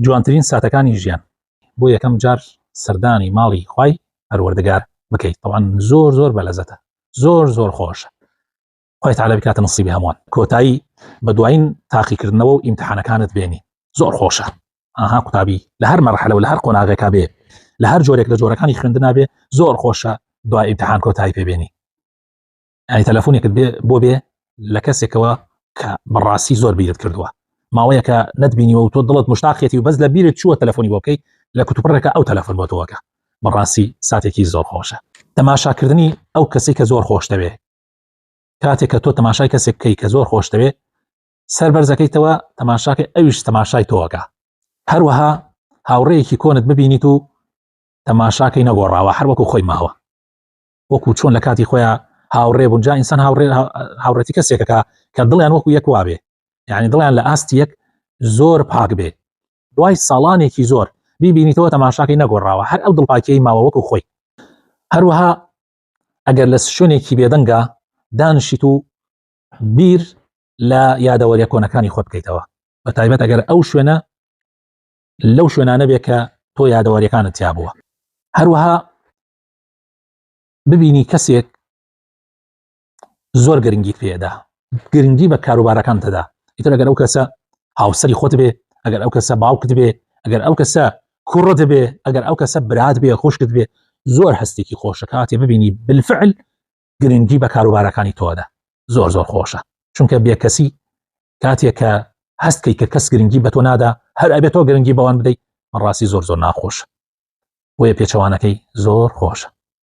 جوانترین ساتەکانی ژیان بۆ یەکەم جار سەردانی ماڵی خوای پەروەردگار بکەیت طبعا زۆر زۆر بەلەزەتە زۆر زۆر خۆشە خوای تعالی بکاتە نصیبی هەمووان کۆتایی بە دوایین تاقیکردنەوە و ئیمتحانەکانت بێنی زۆر خۆشە ئاها قوتابی لە هەر مەرحلە و لە هەر قۆناغێکا بێ لە هەر جۆرێک لە جۆرەکانی خوێندنا بێ زۆر خۆشە دوای ئیمتحان کۆتایی پێبێنی ئەی تەلەفۆنێکت بێ بۆ بێ لە کەسێکەوە کە بەڕاستی زۆر بیرت کردووە ماوەیەکە نەتبینیوە و تۆ دڵت مشتاقێتی و بەس لە بیرت چووە تەلەفۆنی بۆ بکەیت لە کوتوپڕێکە ئەو تەلەفۆن بۆ تۆوەکە بەڕاستی ساتێکی زۆر خۆشە تەماشاکردنی ئەو کەسی کە زۆر خۆشتەوێ کاتێک کە تۆ تەماشای کەسێک بکەی کە زۆر خۆشتەوێ سەر بەرزەکەیتەوە تەماشاکە ئەویش تەماشای تۆوەکە هەروەها هاوڕێیەکی کۆنت ببینیت و تەماشاکەی نەگۆڕاوە هەروەکو خۆی ماوە وەکو چۆن لە کاتی خۆیان هاوڕێ بوون جا ئینسان هاوڕێ هاوڕێتی کەسێکەکە کە دڵیان وەکو یەک وابێ یعنی دڵیان لە ئاست یەک زۆر پاک بێ دوای ساڵانێکی زۆر بیبینیتەوە تەماشاکەی نەگۆڕاوە هەر ئەو دڵپاکیی ماوە وەکو خۆی هەروەها ئەگەر لە شوێنێکی بێدەنگە دانشیت و بیر لە یادەوەریە کۆنەکانی خۆت بکەیتەوە بە تایبەت ئەگەر ئەو شوێنە لەو شوێنانە بێ کە تۆ یادەوەریەکانت تیا بووە هەروەها ببینی کەسێک زۆر گرنگی پێدا گرنگی بە کاروبارەکان دەدا ئیتر ئەگەر ئەو کەسە هاوسری خۆت بێ ئەگەر ئەو کەسە باوکت بێ ئەگەر ئەو کەسە کوڕت بێ ئەگەر ئەو کەسە برات بێ خۆشکت بێ زۆر هەستێکی خۆشەکاتێ ببینی بالفعل گرنگی بە کاروبارەکانی تۆدا زۆر زۆر خۆشە چونکە بێکەسی کاتێک کە هەست کەی کە کەس گرنگی بە تۆ نادا هەر ئەبێت تۆ گرنگی بەوان بدەیت بەڕاستی زۆر زۆر ناخۆش بۆیە پێچەوانەکەی زۆر خۆشە